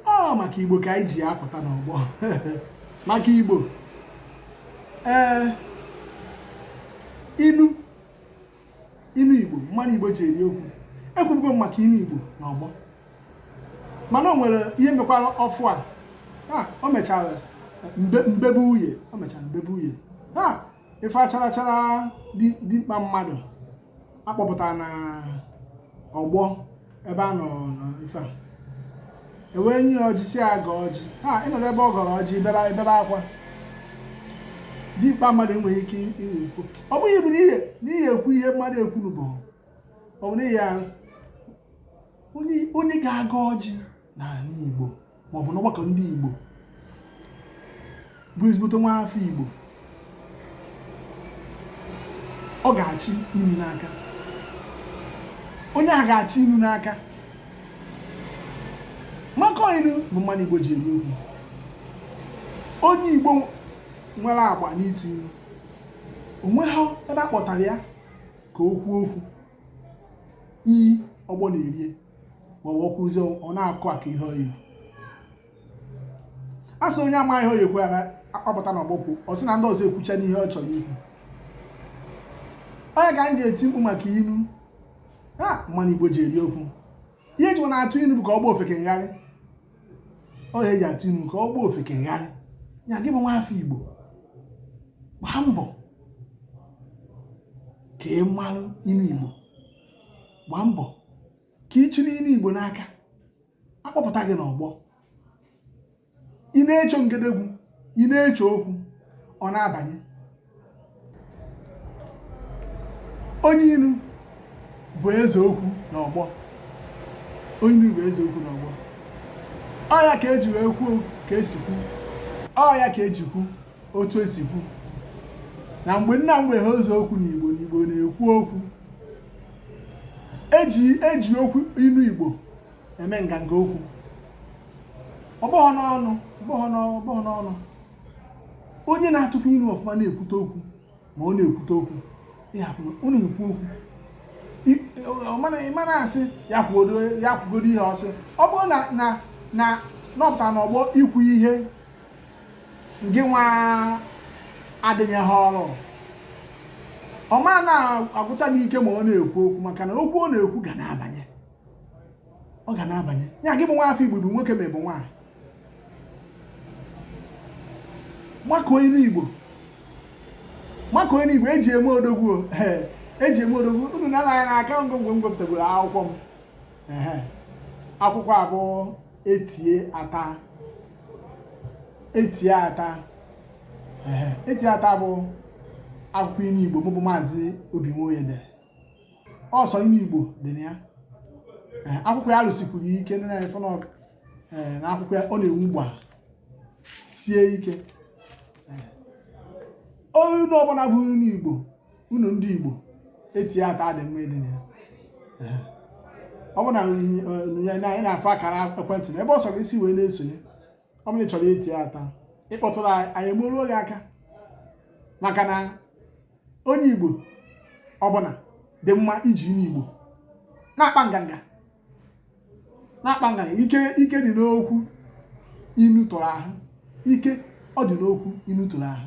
ọ maka igbo ka anyị ji apụta n'ọgbọ maka igbo ee inu inu igbo mmanụ igbo ji eri okwu ekwubugo m maka inu igbo n'ọgbọ mana o nwere ihe mekwara ọfụ a o mechara mbebu uye o mechara mbebu uye ife acharachara dimkpa mmadụ akpọpụtara n'ọgbọ ebe a nọ ife a ewee nye ya ọjị sị ya gọọ ọjị ha ịnọdụ ebe ọ gọrọ ọjị bebe akwa dimkpa mmadụ enweghị ike ikwu ọ bụghị bụ n'ihi ekwu ihe mmadụ ekwuru bụ ọ bụ n'ihi ya onye ga-agọ ọjị n'ala Igbo maọbụ n'ọgbakọ ndị Igbo bụ ezigbote nwa afọ Igbo ọ ga-achị inu n'aka onye a ga-achị inu n'aka maka inu bụ mmanụ Igbo ji eri okwu onye Igbo nwere agba n'ịtụ inu o nweghị ebe a kpọtara ya ka o kwuo okwu iyi ọgbọ na-erie ma ọ kwuruzie ọ na-akụ aka ihe oyi a sị onye amaghị ihe ọ ya-ekwu akpọpụta n'ọgbọ okwu ọ sị na ndị ọzọ ekwuchana ihe ọ chọrọ ikwu ọ ya ka m ji eti mkpu maka inu mmanụ igbo ji eri okwu ihe eji na-atụ inu bụ ka ọ gbaa ofeke ngharị ọ ya eji atụ inu ka ọ gbaa ofeke ngharị ya gị bụ nwa afọ igbo gbaa mbọ ka ị marụ inu igbo gbaa mbọ ka ị chịrị inu igbo n'aka akpọpụta gị n'ọgbọ ị na-echo ngedegwu ị na-echo okwu ọ na-abanye onye inu bụ eze okwu n'ọgbọ onye inu bụ eze okwu n'ọgbọ ọ ya ka eji wee kwuo ka esi kwu ọ ya ka eji kwu otu esi kwu na mgbe nna mgbe ha eze okwu n'igbo n'igbo na-ekwu okwu eji eji okwu inu Igbo eme nganga okwu ọ bụghị n'ọnụ ọ bụghị n'ọnụ ọ bụghị n'ọnụ onye na-atụkwa inu ọfụma na-ekwute okwu ma ọ na-ekwute okwu ịhafụ ọ na-ekwu okwu I- ọ mana- ị ma na-asị ya kwugodo ya kwugodo ihe ọ sị ọ bụrụ na na na nọpụta n'ọgbọ ikwu ihe gị nwa adịghị ha ọrụ ọ ma na-agwụcha gị ike ma ọ na-ekwu okwu maka na okwu ọ na-ekwu ga na-abanye ọ ga na-abanye ya gị bụ nwa afọ igbo bụ nwoke ma ị bụ nwaanyị makụọ inu igbo makụọ inu igbo eji eme odogwu eji eme odogwu unu na-anaghị n'aka ngwongwo m gwepụtagoro akwụkwọ m akwụkwọ abụọ etie ata etie ata etie ata bụ akwụkwọ inu igbo mụ bụ maazị obi nwoye dere ọ sọ inu igbo dị na ya akwụkwọ ya rụsikwuru ike na akwụkwọ ya ọ na-enwu gbaa sie ike ụnọ ọbụla bụ ụnọ igbo ụnọ ndị Igbo etie ata dị mma ịdị na ya ọ bụ na anyị na-afụ akara ekwentị na ebe ọ sọrọ isi wee na-esonye ọ bụrụ na ị chọrọ etie ata ị kpọtụrụ anyị anyị emeruo gị aka maka na onye Igbo ọbụla dị mma iji inu Igbo na-akpa nganga na-akpa nganga ike dị n'okwu inu tụrụ ahụ ike ọ dị n'okwu inu tụrụ ahụ